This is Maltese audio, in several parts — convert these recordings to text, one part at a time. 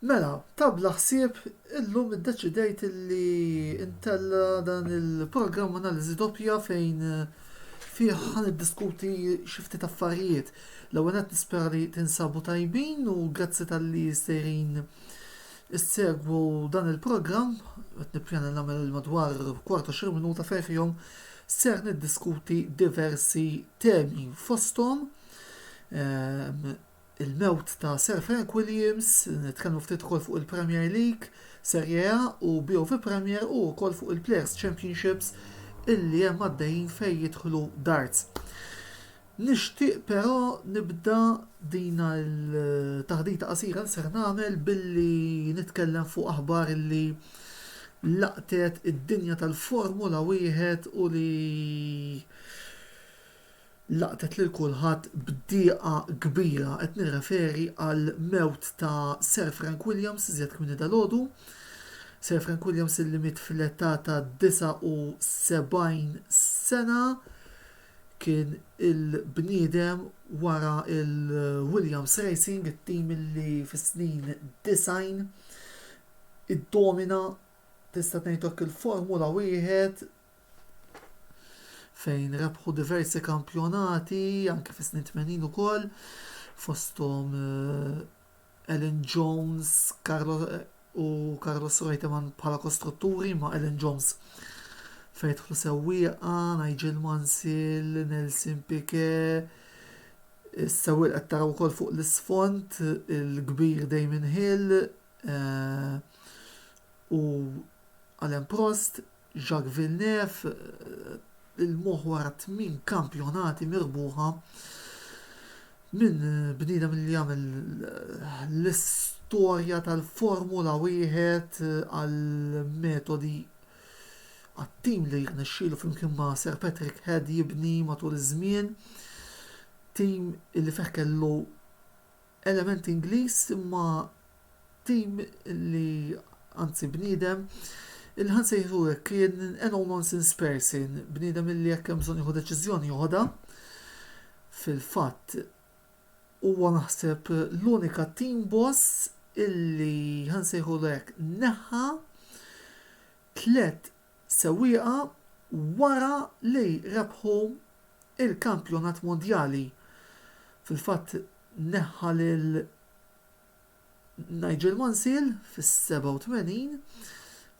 Mela, ta' bla ħsieb, illum iddeċidejt li ntella' dan il-programm Analiżi Doppja fejn fih ħa niddiskuti xi ftit affarijiet. L-ewwel nett nispera li tinsabu tajbin u grazzi talli sejrin issegwu dan il-programm. Qed nippjana li nagħmel madwar kwart 20 minuta fejn fihom ser niddiskuti diversi temi fosthom il-mewt ta' Sir Frank Williams, nitkellmu ftit ukoll fuq il-Premier League, Serie A u BOV Premier u wkoll fuq il-Players Championships illi hemm għaddejjin fejn jidħlu darts. Nixtieq però nibda din il-taħdita qasira li ser nagħmel billi nitkellem fuq aħbar illi laqtet id-dinja tal-Formula Wieħed u li laqtet lil kulħadd b'dieqa kbira. Qed nirreferi għall-mewt ta' Sir Frank Williams iżjed kmieni dalgħodu. Sir Frank Williams illi miet fl-età ta' 79 sena kien il-bniedem wara l-Williams Racing, it-tim illi fis-snin 90 iddomina tista' tgħid hekk il-Formula Wieħed fejn rebħu diversi kampjonati anki fis-snin tmenin ukoll fosthom Elin Jones u Carlos Reutemann bħala kostrutturi ma' Elin Jones fejn jidħlu sewwieqa, Nigel Mansell, Nelson Piquet, is-sewwieq li qed taraw ukoll fuq l-isfond il-kbir Damon Hill u Alain Prost. Jacques Villeneuve, il-moħħ wara tmien kampjonati mirbuħa minn bniedem li għamel l-istorja tal-Formula Wieħed għall-metodi għat-tim li rnexxielu flimkien ma' Sir Patrick Head jibni matul iż-żmien, tim li fih kellu element Ingliż imma tim li anzi bniedem li ħa nsejħlu hekk kien a no nonsense person, bniedem illi jekk hemm bżonn jieħu deċiżjoni joħodha. Fil-fatt huwa naħseb l-unika team boss illi ħa nsejħulu hekk neħħa tliet sewwieqa wara li rebħu l-Kampjonat Mondjali. Fil-fatt neħħa lil Nigel Mansell fis-87,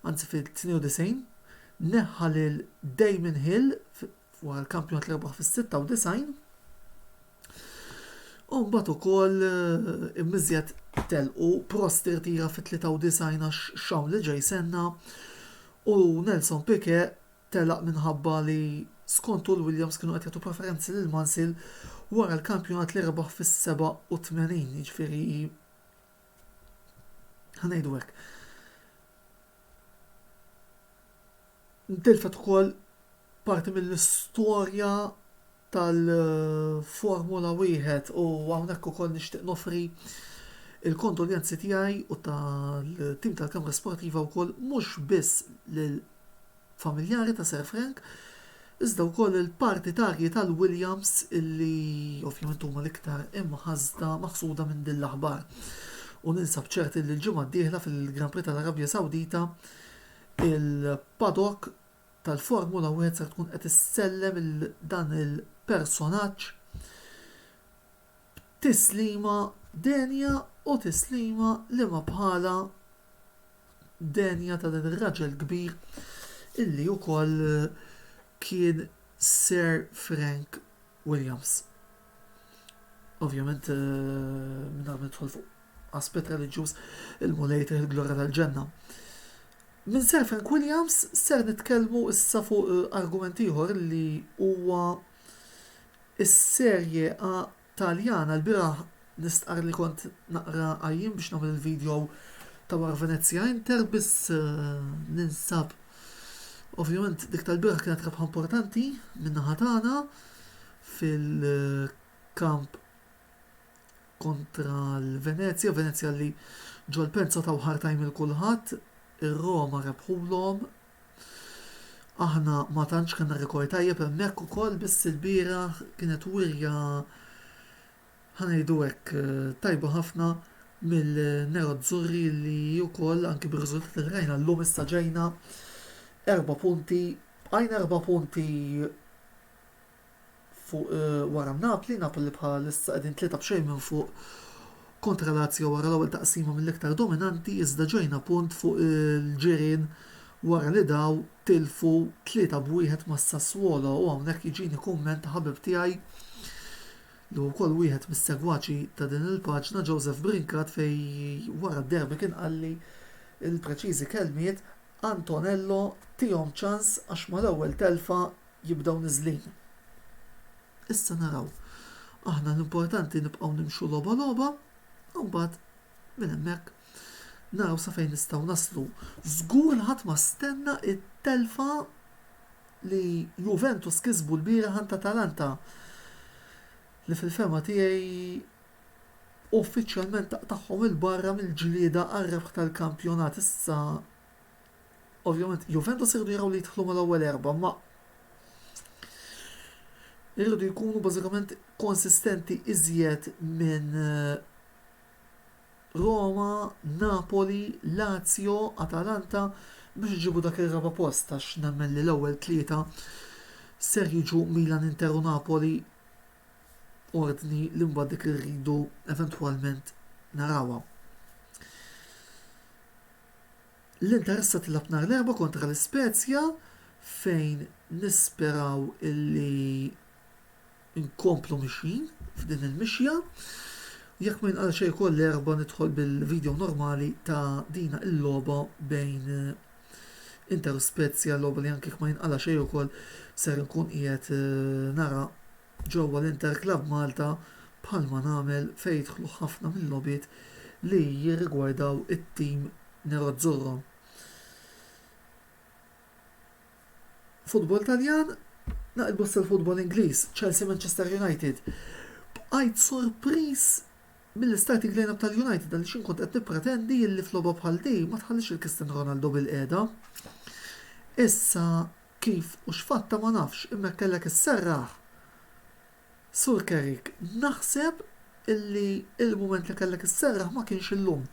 anzi fit-92, neħħa lil Damon Hill Wara l-kampjonat li rebaħ fis-96, u mbagħad ukoll eh, immiżjed telqu Prost irtira fit-93 għax xawn li ġej senna u Nelson Pique telaq minħabba li skontu l-Williams kienu qed jagħtu preferenzi lil Mansil wara l-kampjonat li rebaħ fis-87, jiġifieri ħanejdu hekk. Ntilfet ukoll parti mill-istorja tal-Formula Wieħed u hawnhekk ukoll nixtieq noffri l-kondoljanzi tiegħi u tal-tim tal-Camera Sportiva wkoll mhux biss lill-familjari ta' Sir Frank iżda wkoll lill-partitarji tal-Williams illi ovvjament huma l-iktar imħasda, maħsuda minn din l-aħbar. U ninsab ċert illi l-ġimgħa d-dieħla fil-Grand Prix tal-Arabja Sawdita il-paddock tal-Formula Wieħed ser tkun qed issellem lil dan il-personaġġ b'tislima denja u tislima li ma bħalha denja ta' dan ir-raġel kbir illi wkoll kien Sir Frank Williams. Ovvjament, minn għal nidħol fuq aspett reliġjuż il-Mulej jtih il-glorja tal-ġenna. Minn Sir Frank Williams ser nitkellmu issa fuq argument ieħor li huwa s-Serie A Taljana. Lbieraħ nistqarr li kont naqra għajjien biex nagħmel il-video ta' wara Venezia Inter biss ninsab Ovvjament dik tal-bieraħ kienet rebħa importanti min-naħa tagħna fil-kamp kontra l-Venezja, Venezja li ġol-pensa taw hard time il kulħadd, ir-Roma rebħulhom. Aħna ma tantx kellna rekord tajjeb hemmhekk ukoll biss ilbieraħ kienet wirja ħanejdu hekk tajba ħafna mill-Nerozzurri li wkoll anki bir-riżultat li rajna llum issa ġejna erba' punti, bqajna erba' punti fuq wara Napli, Napoli bħalissa qegħdin tlieta b'xejn minn fuq kontra Lazio wara l-ewwel taqsima mill-iktar dominanti iżda ġejna punt fuq il-ġirien wara li daw tilfu tlieta b'wieħed ma' Sassuolo u hawnhekk jiġini kumment ta' ħabib tiegħi li huwa wkoll wieħed mis-segwaċi ta' din il-paġna Joseph Brincat fejn wara d-derby kien qalli l-preċiżi kelmiet Antonello tihom ċans għax mal-ewwel telfa jibdew niżlin. Issa naraw. Aħna l-importanti nibqgħu nimxu logħba logħba u mbagħad minn hemmhekk naraw sa fejn nistgħu naslu. Żgur li ħadd ma stenna it-telfa li Juventus kisbu l-bieraħ għand Atalanta li fil-fema tiegħi uffiċjalment taqtagħhom il-barra mill-ġlieda għar-rebħ tal-kampjonat issa Ovvjament Juventus iridu jaraw li jidħlu mal-ewwel erbgħa imma iridu jkunu bażikament konsistenti iżjed minn Roma, Napoli, Lazio, Atalanta biex iġibu dak ir-raba' post għax nemmen li l-ewwel tlieta ser jiġu Milan, Inter u Napoli, ordni li mbagħad dik li rridu eventwalment narawha. L-Interista tilgħab nhar l-Erbgħa kontra l-Ispezja fejn nisperaw illi nkomplu mixjin f'din il-mixja. Jekk ma jinqal xejn ukoll l-Erbgħa nidħol bil-video normali ta' dina il-logħba bejn Inter u Spezja, logħba li anke jekk ma jinqala' xejn ukoll ser inkun qiegħed nara ġewwa l-Interclub Malta bħalma nagħmel fejn jidħlu ħafna mil-logħbiet li jirrigwardaw it-tim nerozzurro. Futbol Taljan, Naqilbu issa l-futbol Ingliż, Chelsea-Manchester United. Bqajt sorpriż mill-starting line-up tal-United għaliex jien kont qed nippretendi li f'logħba bħal din ma tħallix il-Cristiano Ronaldo bilqiegħda. Issa Kif u x'fatta ma nafx imma jekk kellek isserraħ Sur Kerik naħseb illi il-mument li kellek isserraħ ma kienx illum.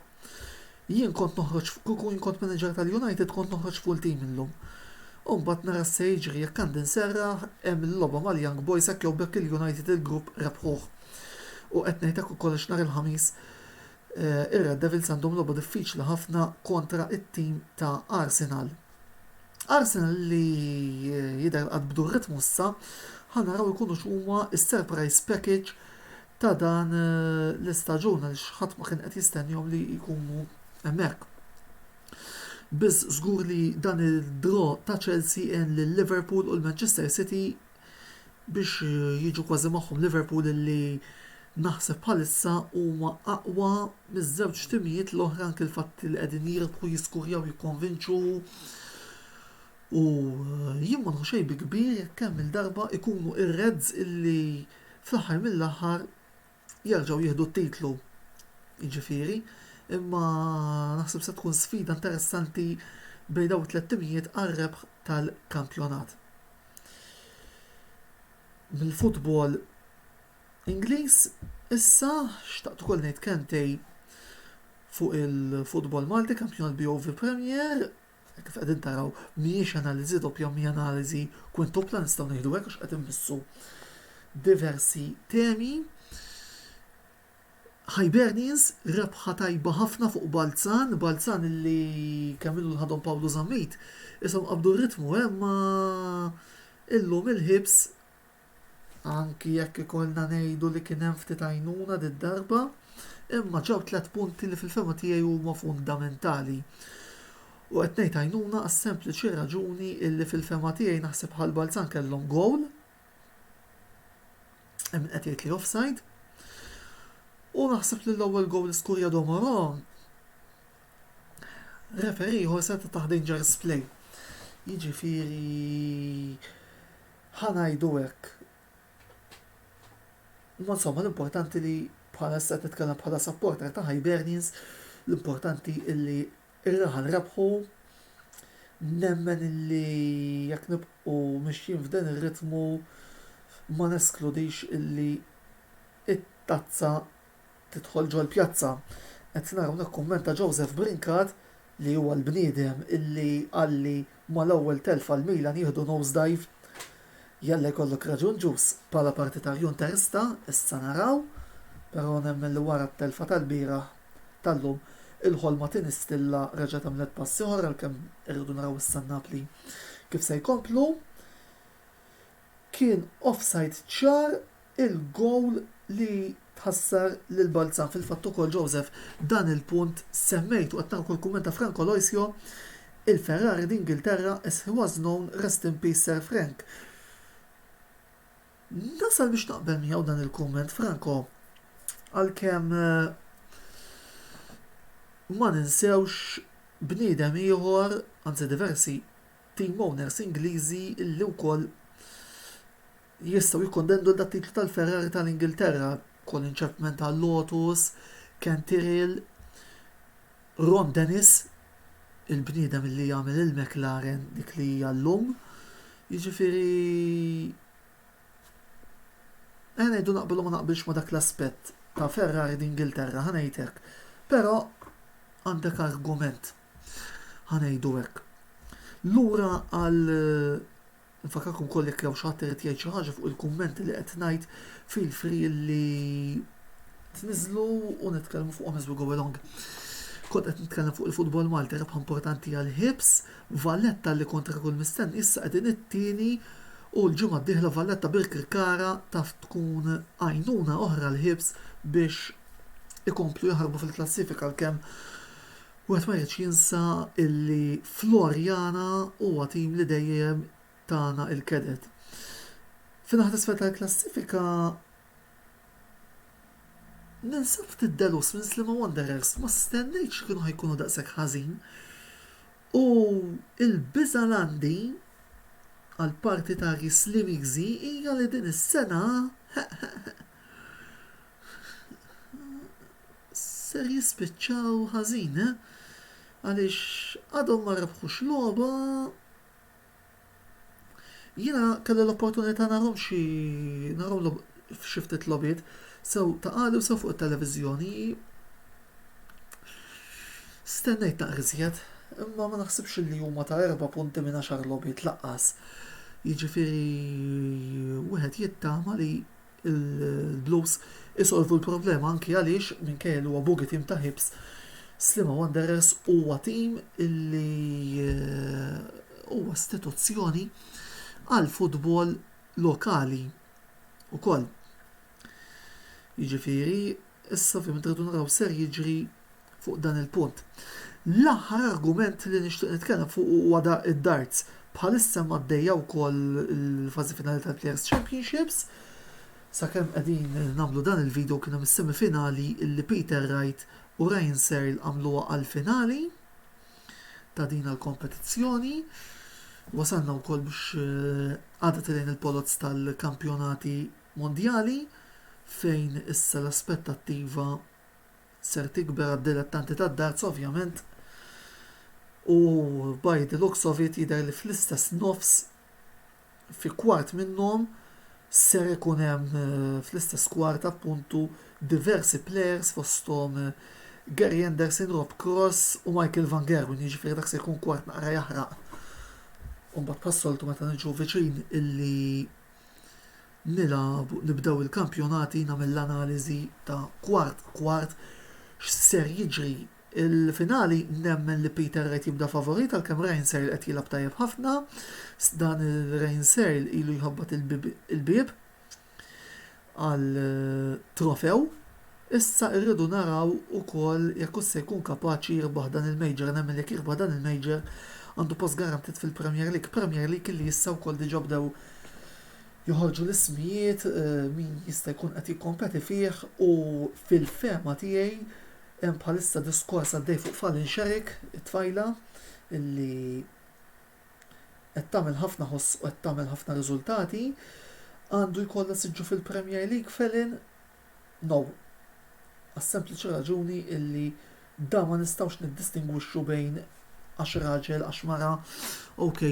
Jien kont noħroġ kieku jien kont manager tal-United kont noħroġ full team illum. U mbagħad nara x'se jiġri jekk għandi nserraħ hemm il-logħba mal-Young Boys hekk jew b'hekk il-United il-grupp rebħuh. U qed ngħid hekk ukoll għax nhar il-Ħamis ir-Red Devils għandhom logħba diffiċli ħafna kontra t-team ta' Arsenal. Arsenal li jidher qatt bdu r-ritmu issa, ħa naraw ikunu x'huma s-surprise package ta' dan l-istaġun għaliex ħadd ma kien qed jistennihom li jkunu hemmhekk. Biss żgur li dan id-draw ta' Chelsea għen lil Liverpool u l-Manchester City biex jiġu kważi magħhom Liverpool li naħseb bħalissa huma aqwa miż-żewġ timijiet l-oħra anki l-fatt li qegħdin jirbħu jiskurjaw jikkonvinċu u jien ma nieħu xejn bi kbir jekk kemm-il darba jkunu r-Reds illi fl-aħħar mill-aħħar jerġgħu jieħdu t-titlu jiġifieri, imma naħseb se tkun sfida interessanti bejn dawn it-tliet timijiet għar-rebħ tal-kampjonat. Mill-futbol Ingliż issa xtaqt ukoll ngħid kemmtej fuq il-futbol Malti, kampjonat BOV Premier, Hekk kif qegħdin taraw mhijiex analiżi doppja imma hija analiżi kwintupla nistgħu ngħidu hekk għax qed immissu diversi temi. Hibernians rebħa tajba ħafna fuq Balzan, Balzan li kemm ilu li ħadhom Pawlu Zammit, ishom qabdu r-ritmu eh imma illum il-Hibs Anki jekk ikollna ngħidu li kien hemm ftit għajnuna did-darba, imma ġew tliet punti li fil-fehma tiegħi huma fundamentali. U qed ngħid għajnuna għas-sempliċi raġuni illi fil-fehma tiegħi naħseb Ħal Balzan kellhom gowl, hemm min qed jgħid li offside, u naħseb li l-ewwel gowl li skurja Domoro, referee ieħor seta' tah dangerous play. Jiġifieri Ħa ngħidu hekk. Imma insomma l-importanti li bħala issa qed nitkellem bħala supporter ta' Hibernians, l-importanti illi r-raħal rebħu, nemmen illi jekk nibqgħu mixjin f'dan ir-ritmu ma neskludix illi t-tazza Tidħol ġol-pjazza. Qed nara hawnhekk kumment ta' Joseph Brincat li huwa l-bniedem illi qalli mal-ewwel telfa l-Milan jieħdu nose dive. Jalla jkollok raġun Ġus. Bħala partitarju Interista, issa naraw, però nemmen li wara t-telfa tal-bieraħ, tal-lum, il-ħolma tinistilla reġgħet għamlet pass ieħor għalkemm irridu naraw issa n-Napli kif se jkomplu. Kien offside ċar il-gowl li tħassar lil Balzan. Fil-fatt ukoll Joseph dan il-punt semmejtu qed nara wkoll kumment ta' Frank Aloisio, Il-Ferrari d'Ingilterra as he was known, rest in peace Sir Frank. Nasal biex naqbel miegħu dan il-kumment Franco għalkemm ma ninsewx bniedem ieħor, anzi diversi, team owners Ingliżi li wkoll jistgħu jikkontendu għal dat-titlu tal-Ferrari tal-Ingilterra, Colin Chapman tal-Lotus, Ken Tyrrell, Ron Dennis, il-bniedem li għamel il-McLaren dik li hija llum. Jiġifieri ħa ngħidu naqbel u ma naqbilx ma' dak l-aspett ta' Ferrari d'Ingilterra, ħa ngħid hekk. Però għandek argument. Ħa ngħidu hekk. Lura għal Nfakkarkom ukoll jekk hawn xi ħadd irid jgħid xi ħaġa fuq il-kummenti li qed ngħid feel free li tniżlu u nitkellmu fuqhom as we go along. Kont qed nitkellem fuq il-futbol Malti rebħa importanti għal Hibs, Valletta li kontra kull mistenni issa qegħdin it-tieni u l-ġimgħa d-dieħla Valletta Birkirkara taf tkun għajnuna oħra għal Hibs biex ikomplu jaħarbu fil-klassifika għalkemm Wieħed ma jridx jinsa illi Floriana huwa tim li dejjem tana il-keded. Fin-naħa t'isfel tal-klassifika ninsab ftit delus minn Sliema Wanderers, ma stennejtx li kienu ħajkunu daqshekk ħażin u l-biża' l-għandi għall-partitarji Slimiżi hija li din is-sena ser jispiċċaw ħażin, eh? Għaliex għadhom ma rebħux logħba Jiena kelli l-opportunità narhom xi narhom f'xi ftit logħbiet sew ta' qali u sew fuq it-televiżjoni. Stennejt naqra iżjed, imma ma naħsibx li huma ta' erba' punti minn għaxar logħbiet laqqas. Jiġifieri wieħed jittama li Il-Blues isolvu l-problema anki għaliex minkejja li huwa bogey team ta' Hibs, Sliema Wanderers huwa tim li huwa istituzzjoni għall-futbol lokali wkoll. Jiġifieri, issa ovvjament irridu naraw ser jiġri fuq dan il-punt. L-aħħar argument li nixtieq nitkellem fuqu huwa da id-darts. Bħalissa hemm għaddejja wkoll il-fażi finali tal-Players Championships. Sakemm qegħdin nagħmlu dan il-video kien hemm is-semifinali li Peter Wright u Ryan Searle għamluha għall-finali ta' din il-kompetizzjoni. Wasalna wkoll biex eh, għadha tilejn il-poloz tal-kampjonati mondjali fejn issa l-aspettattiva ser tikber għad-dilettanti tad-darts ovvjament u by the looks of it jidher li fl-istess nofs fi kwart minnhom ser ikun hemm fl-istess kwart appuntu diversi players fosthom Gary Anderson, Rob Cross u Michael Van Gerwen jiġifieri dak se jkun kwart naqra jaħraq u mbagħad bħas-soltu meta niġu viċin illi Nilagħbu, nibdew il-kampjonati nagħmel l-analiżi ta' kwart kwart x'ser jiġri. Il-finali nemmen li Peter Wright jibda favorit għalkemm Ryan Searle qed jilgħab tajjeb ħafna. Dan Ryan Searle ilu jħabbat il-bieb. għall-trofew, issa irridu naraw ukoll jekk hux se jkun kapaċi jirbaħ dan il-major, nemmen li jekk jirbaħ dan il-major għandu post garantit fil-Premier League, Premier League li issa wkoll diġa bdew joħorġu l-ismijiet min jista' jkun qed jikkompeti fih u fil-fehma tiegħi hemm bħalissa diskors għaddej fuq Fallon Sherrick, it-tfajla li qed tagħmel ħafna ħoss u qed tagħmel ħafna riżultati, għandu jkollha siġġu fil-Premier League felin? No. Għas-sempliċi raġuni illi da ma nistgħux niddistingwixxu bejn għax raġel, għax mara, ok,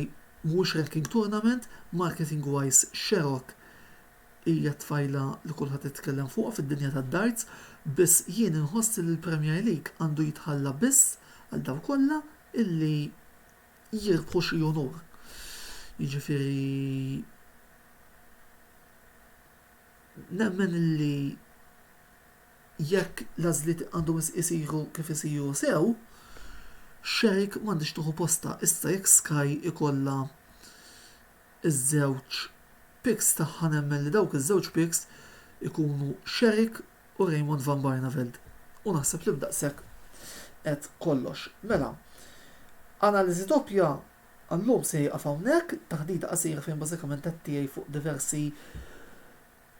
mhuwiex ranking tournament, marketing wise Sherrock hija tfajla li kulħadd itkellem fuqha fid-dinja tad-darts, biss jien inħoss li l-Premier League għandu jitħalla biss għal dawk kollha illi jirbħu xi unur. Jiġifieri nemmen li jekk l-għażliet għandhom isiru kif isiru sew, Shark m'għandhiex tieħu postha. Issa jekk Sky ikollha ż-żewġ picks tagħha nemmen li dawk iż-żewġ picks ikunu Shark u Raymond van Barneveld. U naħseb li b'daqshekk qed kollox. Mela, analiżi doppja għallum se jieqaf hawnhekk, taħdita qasira fejn bażikament qed tiegħi fuq diversi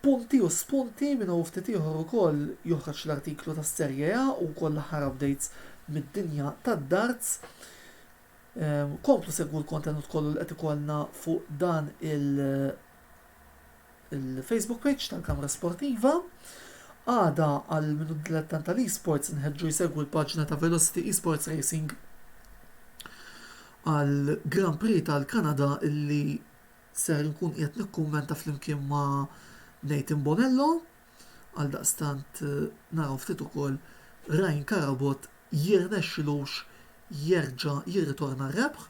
punti u spunti minn hawn ftit ieħor ukoll joħroġ l-artiklu tas-Serje A u wkoll l-aħħar updates mid-dinja tad-darts. Ehm, komplu segwu l-kontenut kollu li qed ikollna fuq dan il- il-Facebook page tal-Kamra Sportiva. Għada għal minu dilettant tal-esports nħeġġu jsegwi l-paġna ta' Velocity Esports Racing għal Grand Prix tal-Kanada illi ser nkun qiegħed nikkummenta flimkien ma' Nathan Bonello għal daqstant eh, naraw ftit ukoll Ryan Karabot jirnexxilux jerġa' jirritorna r-rebħ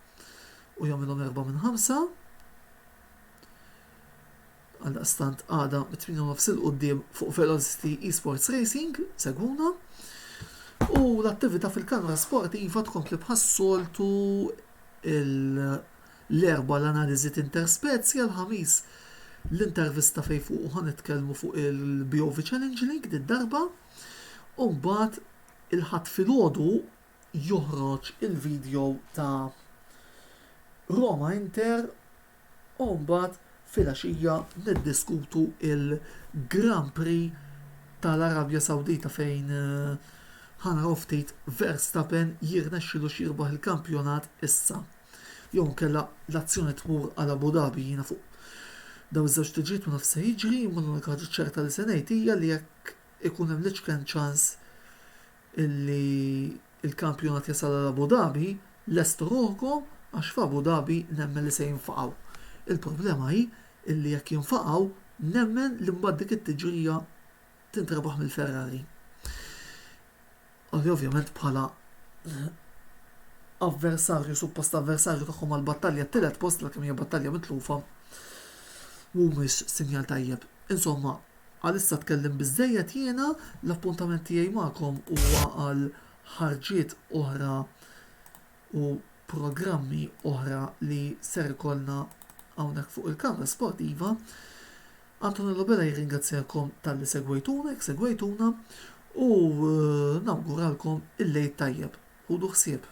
u jagħmilhom erba' minn ħamsa. Għaldaqstant għada mit-8 nofs il-qudiem fuq Velocity Esports Racing, segwuna. U l-attività fil-kamra sportiva tkompli bħas-soltu l-erba l-analiżi interspezja l-ħamis l-intervista fej fuq ħan nitkellmu fuq il-BOV Challenge League darba u mbagħad il-ħadd filgħodu joħroġ il-video ta' Roma Inter u mbagħad filgħaxija niddiskutu il-Grand Prix tal-Arabja Sawdita fejn ħa naraw ftit Verstappen jirnexxilux jirbaħ il-kampjonat issa jew inkella l-azzjoni tmur għal Abu Dhabi jiena fuq dawn iż-żewġ tiġijiet ma nafx se jiġri imma l-unika ħaġa ċerta li se ngħid hija li jekk ikun hemm l-iċken ċans illi l-kampjonat jasal għal Abu Dhabi, lestu ruħkom għax f'Abu Dhabi nemmen li se jinfaqgħu. Il-problema hi illi jekk jinfaqgħu nemmen li mbagħad dik it-tiġrija tintrebaħ mill-Ferrari. Li ovvjament bħala avversarju, suppost avversarju tagħhom għal battalja t-tielet post l kemm hija battalja mitlufa mhumiex sinjal tajjeb. Insomma, Għalissa tkellimt biżżejjed jiena, l-appuntament tiegħi magħkom huwa għal ħarġiet oħra u programmi oħra li ser ikollna hawnhekk fuq il-Kamra Sportiva. Antonello Bela jirringrazzjakom tal-li segwejtuna, jek segwejtuna, u eh, nawguralkom il-lejt tajjeb. Ħudu ħsieb.